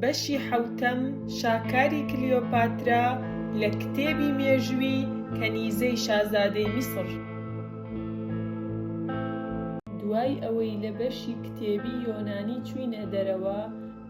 بەشی حەوتەم، شاکاری کلیۆپاترا لە کتێبی مێژووی کەنیزەی شازادەی میسڕ. دوای ئەوەی لە بەشی کتێبی یۆنانی چووینە دەرەوە،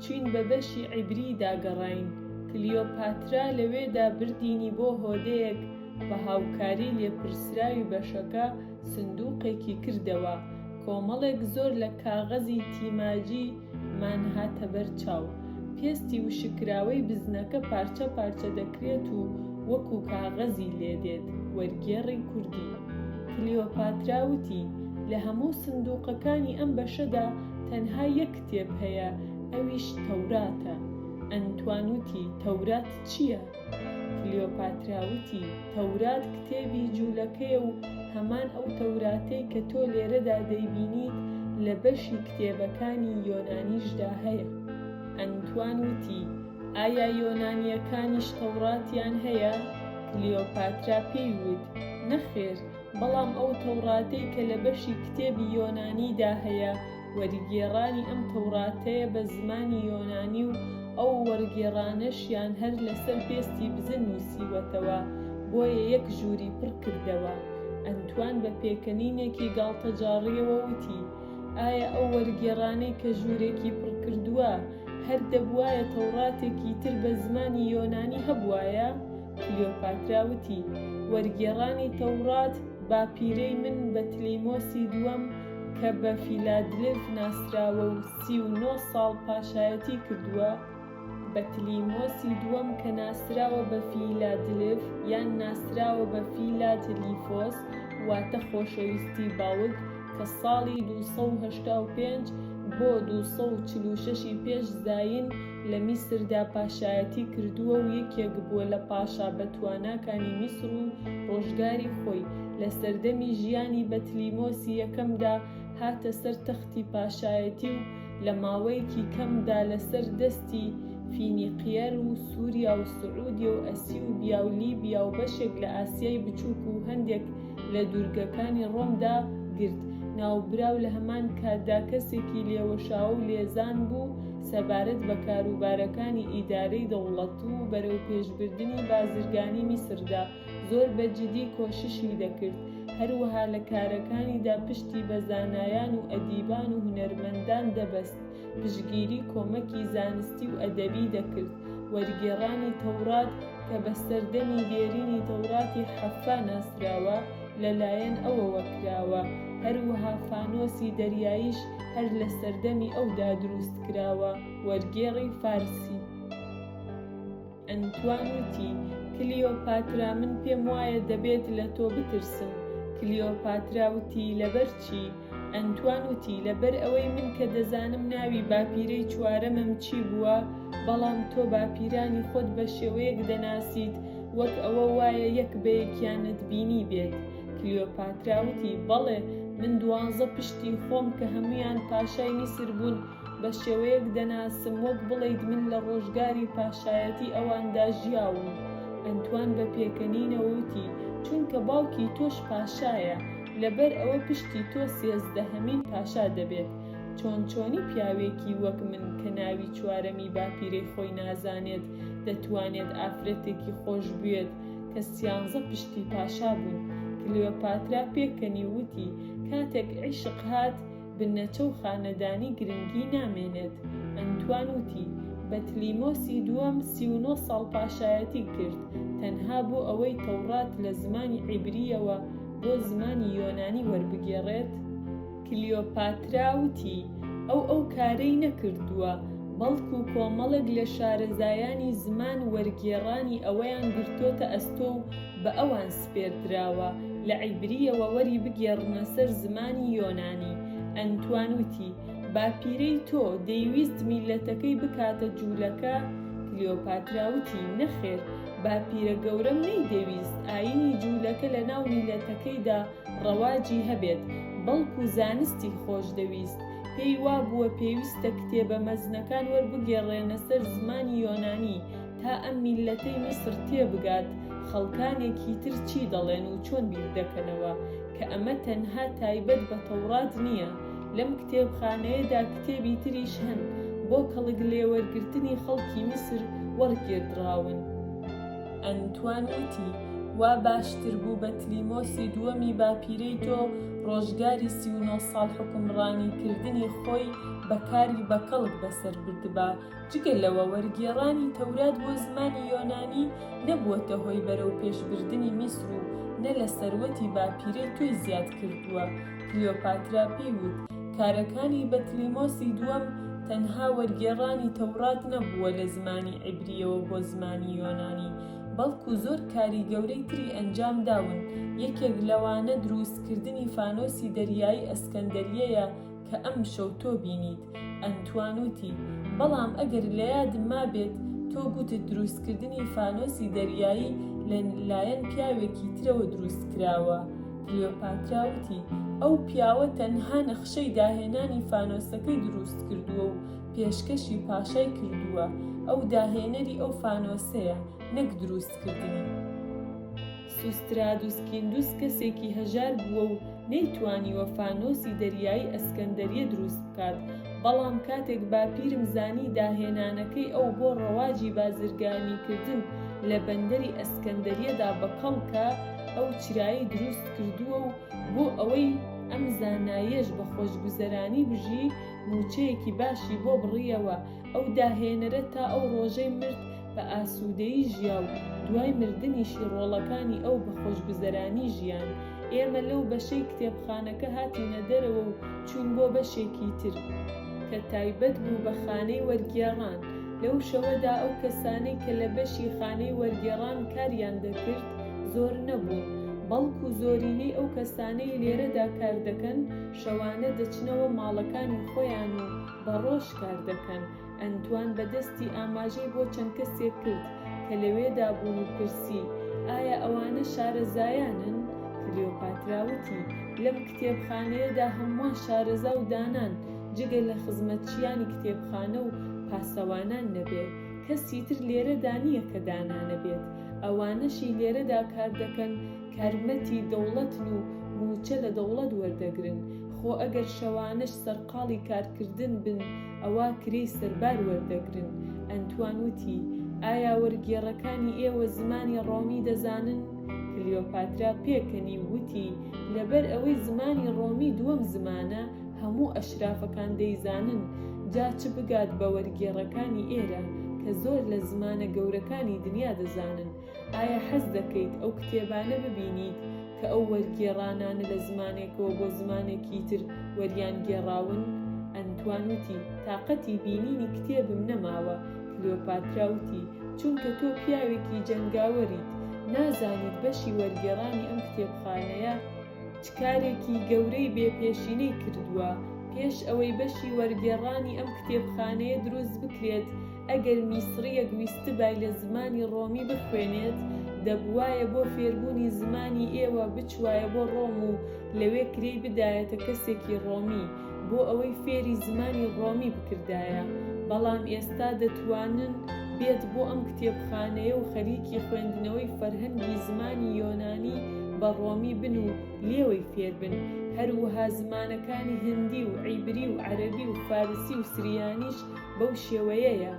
چووین بە بەشی عیبرییدا گەڕاین، کلیۆپاترا لەوێدا بردینی بۆ هۆدەیەک بە هاوکاری لێپرسراوی بەشەکە، سندوقێکی کردەوە، کۆمەڵێک زۆر لە کاغەزی تیماجی مان هاتە بەر چاو. پێستی وشککراوەی بزنەکە پارچە پارچە دەکرێت و وەکو کاغەزی لێ دێت، وەرگێڕی کوردی. کلیۆپاترا وتی، لە هەموو سندوقەکانی ئەم بەشەدا تەنها یەک کتێب هەیە، ئەویش تەوراتە. ئەنتوان وتی، تەورات چییە؟ کلیۆپاترا وتی، تەورات کتێبی جوولەکەیە و هەمان ئەو تەوراتەی کە تۆ لێرەدا دەیبینیت لە بەشی کتێبەکانی یۆنانیشدا هەیە. ئەنتوان وتی، ئایا یۆنانییەکانیش تەوراتیان هەیە؟ کلیۆپاترا پێی وت، نەخێر، بەڵام ئەو تەوراتەی کە لە بەشی کتێبی یۆنانیدا هەیە، وەرگێڕانی ئەم تەوڕاتەیە بە زمانی یۆنانی و ئەو وەرگێڕانەشیان هەر لەسەر پێستی بزن نووسیوەتەوە، بۆیە یەک ژووری پڕ کردەوە. ئەنتوان بە پێکەنینێکی گاڵتەجاڕییەوە وتی، ئایا ئەو وەرگێڕانەی کە ژوورێکی پڕ کردووە، هەر دەبووایە تەوڕاتێکی تر بە زمانی یۆنانی هەبووایە؟ کلیۆپاترا وتی، وەرگێڕانی تەوڕات باپیرەی من بەتلیمۆسی دووەم، کە بە فیلادلف ناسراوە و سی و نۆ ساڵ پاشایەتی کردووە، بەتلیمۆسی دووەم کە ناسراوە بە فیلادلف یان ناسراوە بە فیلا تلیفۆس واتە خۆشەویستی باوک، کە ساڵی دوو سەد و هەشتا و پێنج بۆ دوو سەد و چل و شەش ی پێش زایین لە میسردا پاشایەتی کردووە و یەکێک بووە لە پاشا بەتواناکانی میسر و ڕۆژگاری خۆی، لە سەردەمی ژیانی بەتلیمۆسی یەکەمدا هاتە سەر تەختی پاشایەتی و لە ماوەیەکی کەمدا لەسەر دەستی فینیقیەر و سوریا و سعودیە و ئەسیوبیا و لیبیا و بەشێک لە ئاسیای بچووک و هەندێک لە دوورگەکانی ڕۆمدا گرت. ناوبراو لە هەمان کاتدا کەسێکی لێوەشاوە و لێزان بوو، سەبارەت بە کاروبارەکانی ئیدارەی دەوڵەت و بەرەوپێشبردنی بازرگانی میسردا زۆر بە جدی کۆششی دەکرد، هەروەها لە کارەکانیدا پشتی بە زانایان و ئەدیبان و هونەرمەندان دەبەست، پشتگیری کۆمەکی زانستی و ئەدەبی دەکرد، وەرگێڕانی تەورات کە بە سەردەمی دێرینی تەوراتی حەففا ناسراوە، لە لایەن ئەوەوە کراوە، هەروەها فانۆسی دەریاییش هەر لە سەردەمی ئەودا دروست کراوە. وەرگێڕی فارسی. ئەنتوان وتی، کلیۆپاترا، من پێم وایە دەبێت لە تۆ بترسم. کلیۆپاترا وتی، لەبەر چی؟ ئەنتوان وتی، لەبەر ئەوەی من کە دەزانم ناوی باپیرەی چوارەمم چی بووە، بەڵام تۆ باپیرانی خۆت بە شێوەیەک دەناسیت وەک ئەوە وایە یەک بە یەکیانت بینیبێت. کلیۆپاترا وتی، بەڵێ، من دوانزە پشتی خۆم کە هەموویان پاشای میسر بوون، بە شێوەیەک دەناسم وەک بڵێیت من لە ڕۆژگاری پاشایەتی ئەواندا ژیاوم. ئەنتوان بە پێکەنینەوە وتی، چونکە باوکی تۆش پاشایە. لەبەر ئەوە پشتی تۆ سێزدەهەمین پاشا دەبێت، چۆن چۆنی پیاوێکی وەک من کە ناوی چوارەمی باپیرەی خۆی نازانێت دەتوانێت ئافرەتێکی خۆش بوێت کە سیانزە پشتی پاشا بوون؟ کلێۆپاترا پێکەنی و وتی، کاتێک عیشق هات، بنەچە و خانەدانی گرنگی نامێنێت. ئەنتوان وتی، بەتلیمۆسی دووەم سی و نۆ ساڵ پاشایەتی کرد، تەنها بۆ ئەوەی تەوڕات لە زمانی عیبرییەوە بۆ زمانی یۆنانی وەربگێڕێت؟ کلیۆپاترا وتی، ئەو ئەو کارەی نەکردووە، بەڵکو کۆمەڵێک لە شارەزایانی زمان وەرگێڕانی ئەویان گرتۆتە ئەستۆ و بە ئەوان سپێردراوە، لە عیبرییەوە وەری بگێڕنە سەر زمانی یۆنانی. ئەنتوان وتی، باپیرەی تۆ دەیویست میللەتەکەی بکاتە جوولەکە؟ کلیۆپاترا وتی، نەخێر، باپیرە گەورەم نەیدەویست ئایینی جوولەکە لەناو میللەتەکەیدا ڕەواجی هەبێت، بەڵکو زانستی خۆش دەویست. پێی وابووە پێویستە کتێبە مەزنەکان وەربگێڕرێنە سەر زمانی یۆنانی، تا ئەم میللەتەی میسر تێبگات خەڵکانێکی تر چی دەڵێن و چۆن بیردەکەنەوە، کە ئەمە تەنها تایبەت بە تەوڕات نییە، لەم کتێبخانەیەدا کتێبی تریش هەن بۆ کەڵک لێوەرگرتنی خەڵکی میسر وەڕگێردراون. ئەنتوان وتی، وا باشتر بوو بەتلیمۆسی دووەمی باپیرەی تۆ ڕۆژگاری سی و نۆ ساڵ حوکمڕانیکردنی خۆی بە کاری بەکەڵک بەسەر بردبا، جگە لەوە وەرگێڕانی تەورات بۆ زمانی یۆنانی نەبووەتە هۆی بەرەو پێش بردنی میسر و نە لە سەروەتی باپیرەی تۆی زیاد کردووە، کلیۆپاترا پێی وت کارەکانی بەتلیمۆسی دووەم تەنها وەرگێڕانی تەورات نەبووە لە زمانی عیبریەوە بۆ زمانی یۆنانی بەڵکو زۆر کاری گەورەی تری ئەنجام داون یەکێک لەوانە درووست کردنی فانۆسی دەریایی ئەسکەندەریەیە کە ئەمشەو تۆ بینیت. ئەنتوان وتی، بەڵام ئەگەر لە یادم مابێت تۆ گوتت دروستکردنی فانۆسی دەریایی لە لایەن پیاوێکی ترەوە دروست کراوە. کلیۆپاترا وتی، ئەو پیاوە تەنها نەخشەی داهێنانی فانۆسەکەی دروست کردووە و پێشکەشی پاشای کردووە. ئەو داهێنەری ئەو فانۆسەیە، نەک دروستکردنی. سوسترادوس کیندوس کەسێکی هەژار بووە و نەیتوانیوە فانۆسی دەریایی ئەسکەندەریە دروست بکات، بەڵام کاتێک باپیرم زانی داهێنانەکەی ئەو بۆ ڕەواجی بازرگانیکردن لە بەندەری ئەسکەندەریەدا بە کەڵکە ئەو چرایی دروست کردووە و بۆ ئەوەی ئەم زاناییەش بە خۆشگوزەرانی بژی مووچەیەکی باشی بۆ بڕییەوە، ئەو داهێنەرە تا ئەو ڕۆژەی مرد بە ئاسوودەیی ژیا و دوای مردنیشی ڕۆڵەکانی ئەو بە خۆشگوزەرانی ژیان. ئێمە لەو بەشەی کتێبخانەکە هاتینە دەرەوە و چووین بۆ بەشێکی تر، کە تایبەت بوو بە خانەی وەرگێڕان، لەو شەوەدا ئەو کەسانەی کە لە بەشی خانەی وەرگێڕان کاریان دەکرد زۆر نەبوون، بەڵکو زۆرینەی ئەو کەسانەی لێرەدا کار دەکەن شەوانە دەچنەوە ماڵەکانی خۆیان و بە ڕۆژ کار دەکەن. ئەنتوان بە دەستی ئاماژەی بۆ چەند کەسێک کرد کە لەوێدا بوون و پرسی، ئایا ئەوانە شارەزایانن؟ کلیۆپاترا وتی، لەم کتێبخانەیەدا هەمووان شارەزا و دانان، جگە لە خزمەتچییانی کتێبخانە و پاسەوانان نەبێت، کەسی تر لێرەدا نییە کە دانا نەبێت، ئەوانەشی لێرەدا کار دەکەن کارمەتی دەوڵەتن و مووچە لە دەوڵەت وەردەگرن، خۆ ئەگەر شەوانەش سەرقاڵی کارکردن بن، ئەوا کرێی سەربار وەردەگرن. ئەنتوان وتی، ئایا وەرگێڕەکانی ئێوە زمانی ڕۆمی دەزانن؟ کلیۆپاترا پێکەنی و وتی، لەبەر ئەوەی زمانی ڕۆمی دووەم زمانە، هەموو ئەشرافەکان دەیزانن، جا چ بگات بە وەرگێڕەکانی ئێرە، کە زۆر لە زمانە گەورەکانی دنیا دەزانن. ئایا حەز دەکەیت ئەو کتێبانە ببینیت کە ئەو وەرگێڕانانە لە زمانێکەوە بۆ زمانێکی تر وەریانگێڕاون؟ ئەنتوان وتی، تاقەتی بینینی کتێبم نەماوە. کلیۆپاترا وتی، چونکە تۆ پیاوێکی جەنگاوەریت، نازانیت بەشی وەرگێڕانی ئەم کتێبخانەیە، چ کارێکی گەورەی بێ پێشینەی کردووە، پێش ئەوەی بەشی وەرگێڕانی ئەم کتێبخانەیە دروست بکرێت، ئەگەر میسڕییەک ویستبای لە زمانی ڕۆمی بخوێنێت، دەبووایە بۆ فێربوونی زمانی ئێوە بچوایە بۆ ڕۆم و لەوێ کرێی بدایەتە کەسێکی ڕۆمی بۆ ئەوەی فێری زمانی ڕۆمی بکردایە، بەڵام ئێستا دەتوانن بێت بۆ ئەم کتێبخانەیە و خەریکی خوێندنەوەی فەرهەنگی زمانی یۆنانی بە ڕۆمی بن و لێوەی فێربن، هەروەها زمانەکانی هندی و عیبری و عەرەبی و فارسی و سریانیش بەو شێوەیەیە،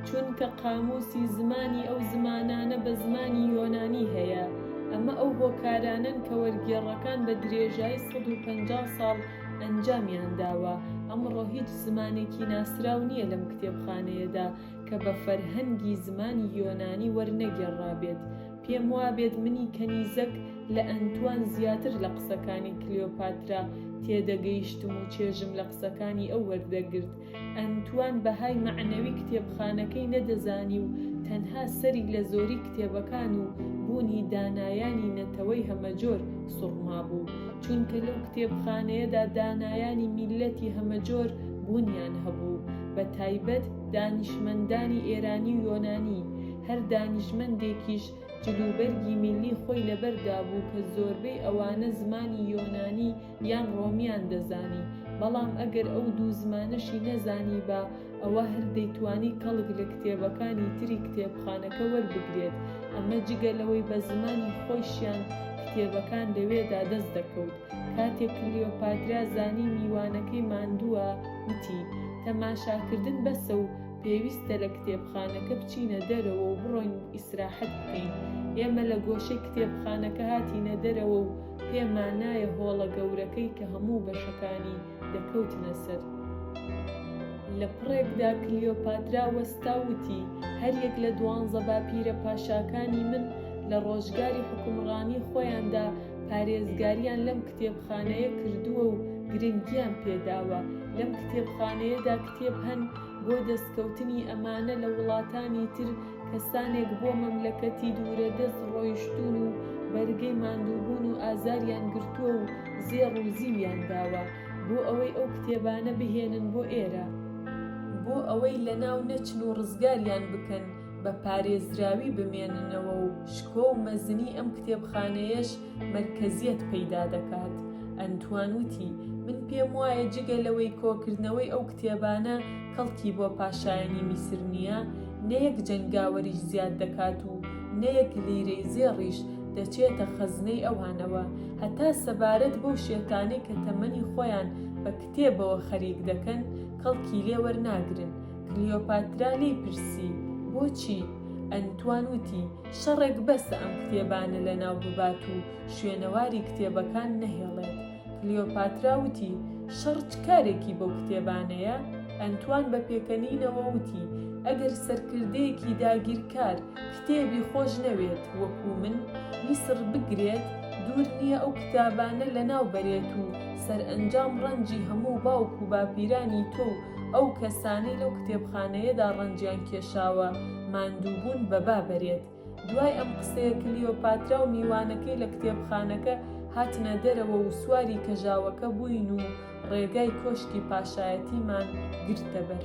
چونکە قامووسی زمانی ئەو زمانانە بە زمانی یۆنانی هەیە، ئەمە ئەو هۆکارانەن کە وەرگێڕەکان بە درێژایی سەد و پەنجا ساڵ ئەنجامیان داوە، ئەمڕۆ هیچ زمانێکی ناسراو نییە لەم کتێبخانەیەدا کە بە فەرهەنگی زمانی یۆنانی وەرنەگێڕرابێت، پێم وابێت منی کەنیزەک لە ئەنتوان زیاتر لە قسەکانی کلیۆپاترا تێدەگەیشتم و چێژم لە قسەکانی ئەو وەردەگرت، ئەنتوان بەهای مەعنەوی کتێبخانەکەی نەدەزانی و تەنها سەری لە زۆری کتێبەکان و بوونی دانایانی نەتەوەی هەمەجۆر سوڕمابوو، چونکە لەو کتێبخانەیەدا دانایانی میللەتی هەمەجۆر بوونیان هەبوو، بە تایبەت دانیشمەندانی ئێرانی و یۆنانی، هەر دانیشمەندێکیش جلوبەرگی میللی خۆی لەبەردابوو کە زۆربەی ئەوانە زمانی یۆنانی یان ڕۆمیان دەزانی، بەڵام ئەگەر ئەو دوو زمانەشی نەزانیبا، ئەوا هەر دەیتوانی کەڵک لە کتێبەکانی تری کتێبخانەکە وەربگرێت، ئەمە جگە لەوەی بە زمانی خۆیشیان کتێبەکان لەوێدا دەست دەکەوت. کاتێک کلیۆپاترا زانی میوانەکەی ماندووە، وتی، تەماشاکردن بەسە و پێویستە لە کتێبخانەکە بچینە دەرەوە و بڕۆین ئیسراحەت بکەین. ئێمە لە گۆشەی کتێبخانەکە هاتینە دەرەوە و، پێمان نایە هۆڵە گەورەکەی کە هەموو بەشەکانی دەکەوتنە سەر. لە پڕێکدا کلیۆپاترا وەستا و وتی، هەریەک لە دوانزە باپیرە پاشاکانی من لە ڕۆژگاری حوکمڕانیی خۆیاندا پارێزگارییان لەم کتێبخانەیە کردووە و گرنگییان پێ داوە. لەم کتێبخانەیەدا کتێب هەن بۆ دەستکەوتنی ئەمانە لە وڵاتانی تر کەسانێک بۆ مەملەکەتی دوورەدەست ڕۆیشتوون و بەرگەی ماندووبوون و ئازاریان گرتووە و زێڕ و زیویان داوە بۆ ئەوەی ئەو کتێبانە بهێنن بۆ ئێرە، بۆ ئەوەی لەناو نەچن و ڕزگاریان بکەن، بە پارێزراوی بمێننەوە و شکۆ و مەزنی ئەم کتێبخانەیەش مەرکەزیەت پەیدا دەکات. ئەنتوان وتی، من پێم وایە جگە لەوەی کۆکردنەوەی ئەو کتێبانە کەڵکی بۆ پاشایانی میسر نییە، نە یەک جەنگاوەریش زیاد دەکات و نە یەک لیرەی زێڕیش دەچێتە خەزنەی ئەوانەوە، هەتا سەبارەت بەو شێتانەی کە تەمەنی خۆیان بە کتێبەوە خەریک دەکەن کەڵکی لێ وەرناگرن. کلیۆپاترا لێی پرسی، بۆچی؟ ئەنتوان وتی، شەڕێک بەسە ئەم کتێبانە لەناو ببات و شوێنەواری کتێبەکان نەهێڵێت. کلیۆپاترا وتی، شەڕ چ کارێکی بەو کتێبانەیە؟ ئەنتوان بە پێکەنینەوە وتی، ئەگەر سەرکردەیەکی داگیرکار کتێبی خۆش نەوێت وەکوو من، میسر بگرێت، دوور نییە ئەو کتابانە لەناو بەرێت و سەرئەنجام ڕەنجی هەموو باوک و باپیرانی تۆ و ئەو کەسانەی لەو کتێبخانەیەدا ڕەنجیان کێشاوە ماندووبوون بە با بەرێت. دوای ئەم قسەیە کلیۆپاترا و میوانەکەی لە کتێبخانەکە هاتنە دەرەوە و سواری کەژاوەکە بووین و ڕێگای کۆشکی پاشایەتیمان گرتە بەر.